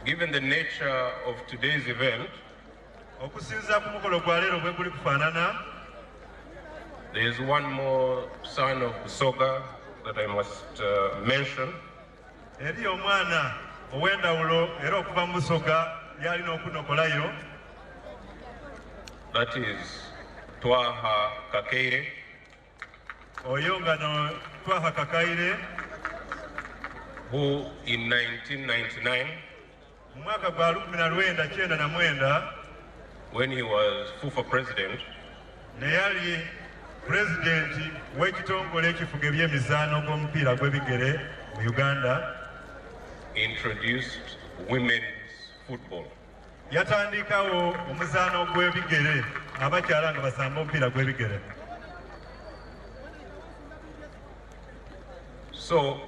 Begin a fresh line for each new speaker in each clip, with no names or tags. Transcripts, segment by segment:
Given the nature of today's event, okusinziira ku mukolo gwa leero bwe guli kufaanana there is one more son of Busoga that I must uh, mention. Eriyo omwana ow'endawulo era okuva mu Busoga yalina okunokolayo. That is Twaha Kakeire. Oyo nga no Twaha Kakaire. Who in 1999 Mu mwaka gwa lukumi na lwenda kyenda na mwenda when he was FUFA president, ne yali pulezidenti w'ekitongole ekifuga eby'emizaano gw'omupiira gw'ebigere mu Uganda introduced women's football. yatandikawo omuzaano gw'ebigere abakyala nga basamba omupiira gw'ebigere So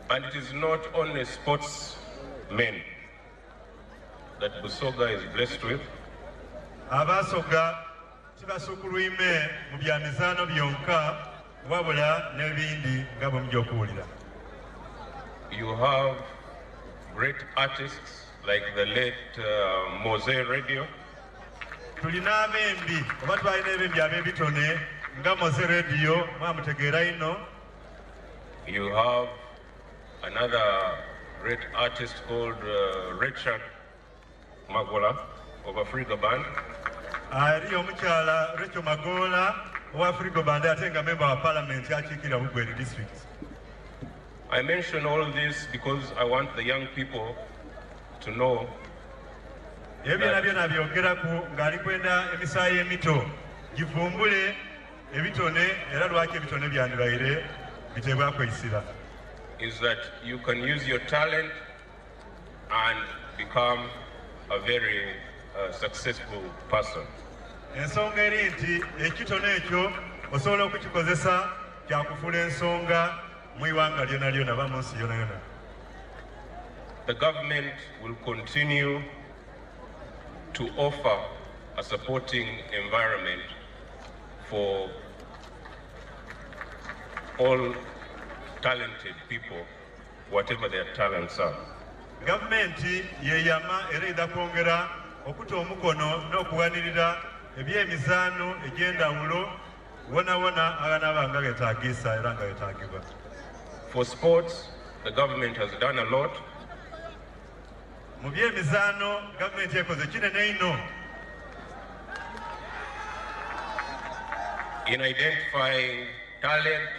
And it is not only sports men that Busoga is blessed with. Abasoga tibasukulwime mu bya mizaano byonka wabula n'ebindi nga bwe mujja okuwulira. You have great artists like the late uh, Mose Radio. tulina abembi oba twalina ebembi abebitone nga moze radio mwamutegeera ino you have another great artist called uh, richard magola of africa band ali omukyala recho magola owa africa band ate nga memba wa parliament akiikira bugweri district I mention all this because I want the young people to know ebyona byona byogeraku ng'ali kwenda emisaayi emito givumbule ebitone era lwaki ebitone byandibaire biteebwako isira is that you can use your talent and become a very uh, successful person ensonga eri nti ekitone ekyo osobola okukikozesa kyakufuula ensonga mu iwanga lyona lyona ba munsi yona yona the government will continue to offer a supporting environment for all talented people whatever their talents are gavumenti
yeyama era eda kwongera okuta omukono n'okuwanirira ebyemizaano egy'endawulo wonawona aganaba nga getagisa era nga getagibwa for
sports the government has done a lot
mu byemizaano gavumenti ekoze kinene ino
in identifying talent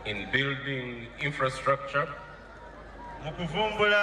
in building infrastructure mu
kuvumbula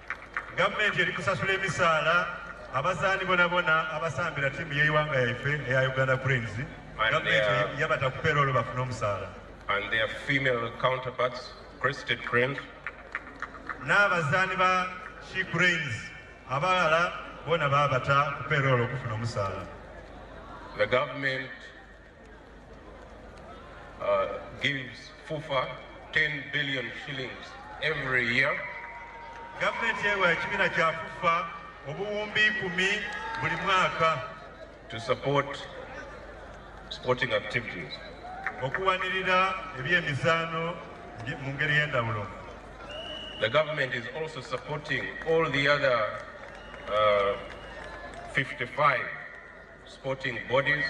Gavumenti
eri kusasula emisaala abazaani bonabona abasambira ttiimu y'eiwanga yaife eya Uganda Cranes. Gavumenti yabata ku peroolo bafune omusaala. N'abazaani ba She Cranes abalala bona baabata ku peroolo okufuna omusaala.
Uh, gives FUFA 10 billion shillings every year. Gavumenti
ewa ekibiina kya FUFA obuwumbi kumi buli mwaka to support
sporting activities okuwanirira
ebyemizaano mu ngeri y'endawulo The
government is also supporting all the other uh, 55 sporting bodies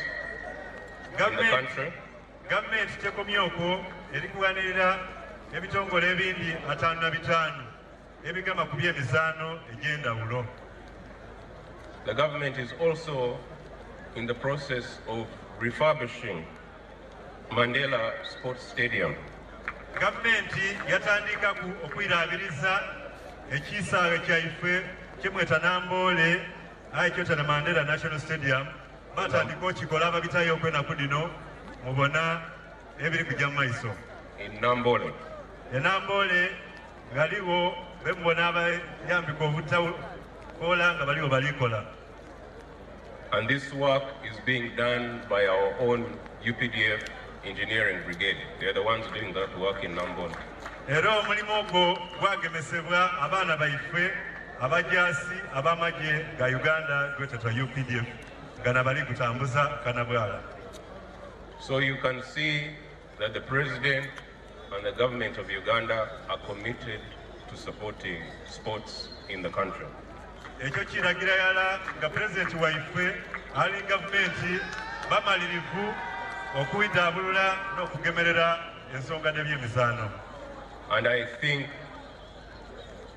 gavumenti
tekomye okwo erikuwanirira ebitongole ebindi ataano na bitaano ebigamba ku byemizaano egy'endawulo
The government is
also
in the process of refurbishing Mandela Sports Stadium. Gavumenti
yatandika ku okwiraabiriza ekisaawe kyaife kyemweta Namboole Aye kyota na Mandela National Stadium batandika okikola ababitayo okwenaku dino mubona ebiri kuja mu maiso enambole
enambole
ngaliwo bemubona abayambika obutakola nga baliwo balikola
and this work is being done by our own UPDF Engineering Brigade. They are the ones doing that work in Nambon. Era omulimu
ogwo gwagemesebwa abaana baifwe abajaasi ab'amagye ga Uganda gwetetwa UPDF gana bali gutambuza kanabwala.
So you can see that the president And the government of Uganda are committed to supporting sports in the country. Ekyo
kiragira yala nga president waife ali gavumenti bamalirivu okubitabulula n'okugemerera ensonga n'ebyemizaano. And I
think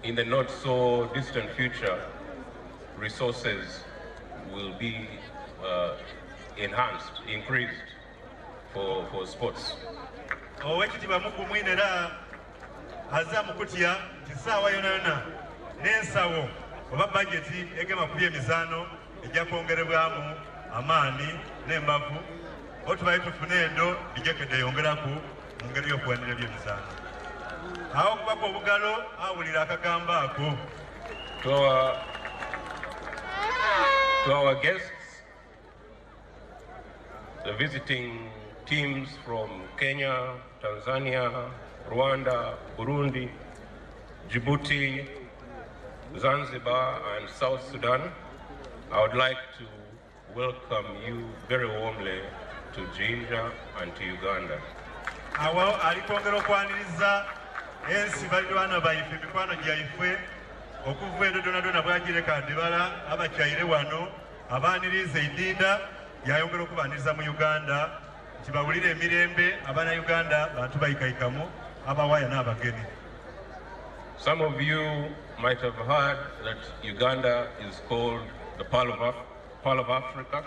in the not so distant future resources will be uh, enhanced, increased. owekitiibwa
mugumwine era aza mukutya nti saawa yonayona n'ensawo oba bajeti egema ku byemizaano ejja kwongerebwamu amaani n'embavu otubaye tufune endo bijekedde yongeraku mu ngeri y'okuwanira ebyemizaano awo okubaka obugalo awulira akagambo ako to our,
to our guests. The visiting teams from Kenya, Tanzania, Rwanda, Burundi, Djibouti, Zanzibar and South Sudan, I would like to welcome you very warmly to Jinja and to Uganda. awo
alikwongera okwaniriza ensi balirwana baife mikwano gyaife okuva edodonadona bwagireka ndibala abakyayire wano Abaaniriza Idinda yayongera okubaaniriza mu Uganda nti bawulire emirembe abana Uganda bantu bayikayikamu abawaya n'abagenyi.
Some of you might have heard that Uganda is called the Pearl of, Af Pearl of Africa.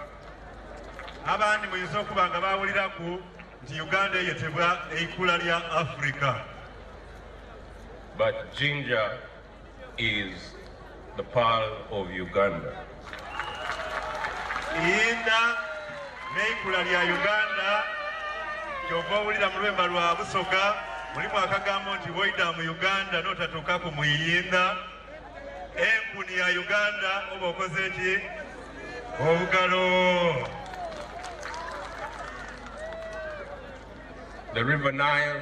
Abandi muyinza okuba nga baawulirako nti Uganda eyetebwa eikula lya Africa. But
Jinja is the pearl of Uganda.
Iyinda n'eikula lya Uganda kyova owulira mu lwemba lwa Busoga mulimu akagambo nti woida mu Uganda n'otatuuka ku mu Iyinda. Enkuni ya Uganda oba okoze ki obugalo.
The River Nile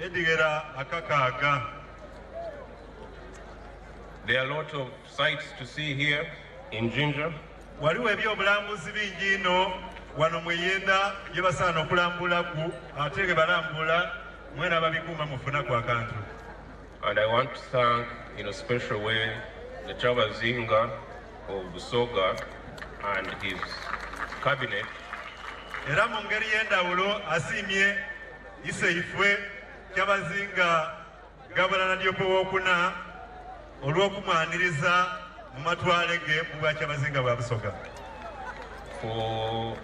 Edigera akakaaga.
There are a lot of sights to see here in Jinja. Waliwo
ebyobulambuzi bingi ino wano mweyenda gye basaana okulambula ku ate ge balambula mwena babikuuma mufuna ku akantu. And I
want to thank in a special way the Chabazinga of Busoga and his cabinet.
Era mu ngeri y'endawulo asiimye Iseifwe Kyabazinga Gabula Nadiope w'okuna olw'okumwaniriza mu matwale ge mu bwa Kyabazinga bwa Busoga. For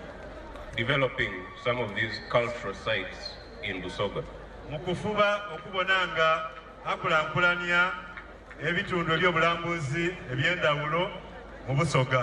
developing some of these cultural sites in Busoga. Mu kufuba
okubona nga akulankulanya ebitundu ebyobulambuzi ebyendawulo mu Busoga.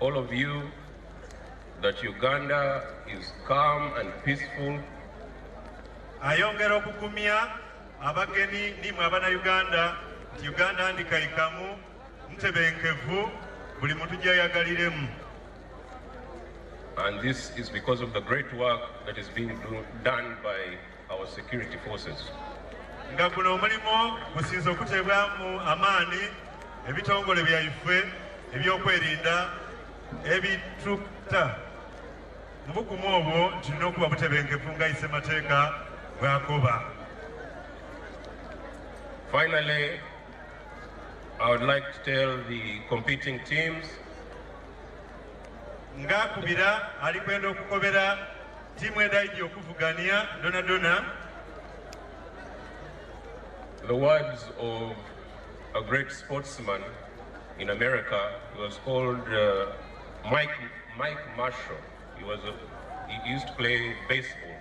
All of you that Uganda is calm and peaceful.
Ayongera okugumya abageni nimwe abana Uganda nti Uganda ndikaikamu ntebenkevu buli muntu gyayagaliremu.
And this is because of the great work that is being done by nga guno
omulimu gusinze okuteebwamu amaani ebitongole byaife ebyokwerinda ebitukta mu bukumu obwo kirina okuba butebenkevu nga ise mateeka bwakoba
Finally, I would like to tell the competing teams
ngakubira alikwenda okukobera Tiimu edaidi okuvugania dona dona.
The words of a great sportsman in America he was called uh, Mike Mike Marshall. He was a, he used to play baseball.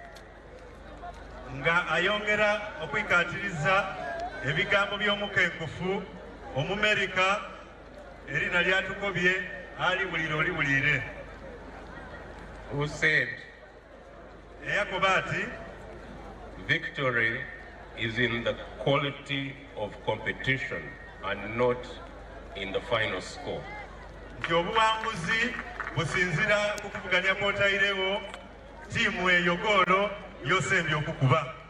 Nga ayongera okwikatiriza ebigambo by'omukenkufu omumerika erina lyatukobye aliwulire oliwulire
used eyakoba ati
victory
is in the quality of competition and not in the final score nti
obuwanguzi businzira ku kuvuganya kwotayirewo tiimu eyo goolo yosembye okukuba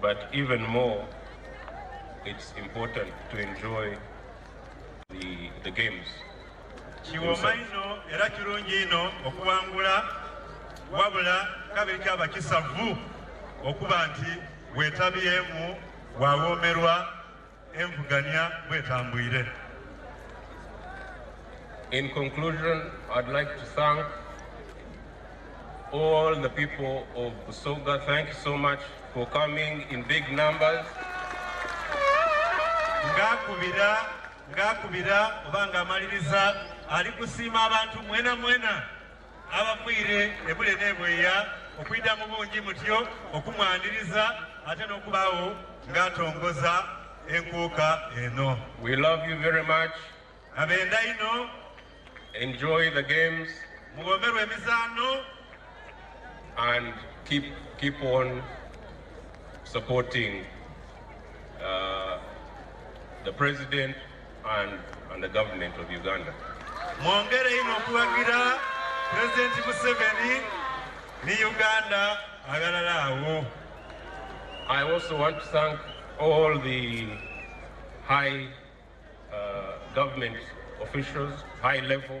But even more, it's important to enjoy the, the games. kiwoma
ino era kirungi ino okuwangula wabula kabiri kyaba kisavu okuba nti wetabyemu wawoomerwa Envuganya bwetambwire.
In conclusion, I'd like to thank all the people of Busoga. Thank you so much for coming in big numbers. Ngakubira,
ngakubira, ubanga maliriza, alikusiima abantu mwena mwena. abamwire ebule nebweya okwida mu bungi mutyo okumwaniriza ate n'okubaawo ng'atongoza enkuuka eno we love you very
much abenda ino
enjoy
the games mugomerwa
emizaano
and keep, keep on supporting uh, the president mwongere
ino okuwagira pulezidenti museveni ne uganda agalala awo
i also want to thank all the high uh, government officials high level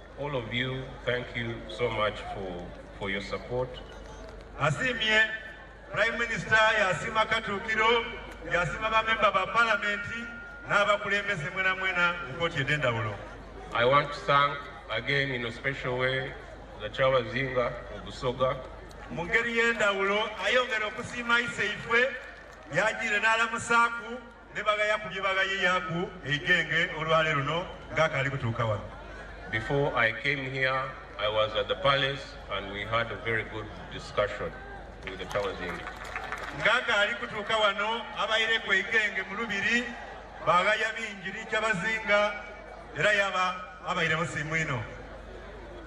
All of you, thank you so much for, for your support. Asimye
Prime Minister yasima Katukiro yasima bamemba ba palamenti n'abakulembeze mwena mwena mu kkooti ed'endawulo. I want to
thank again in a special way the Kyabazinga of Busoga. Mu ngeri
y'endawulo ayongera okusiima Iseife yagiire n'alamusaaku ne bagaya ku bye bagayiyaku eigenge olwale luno ng'akaali kutuuka wano before i
came here i was at the palace and we had a very good discussion with the towazindi ng'akaali
kutuuka wano abayire ku eigenge mu lubiri bagaya bingi nikyabazinga era yaba abayiremu simu ino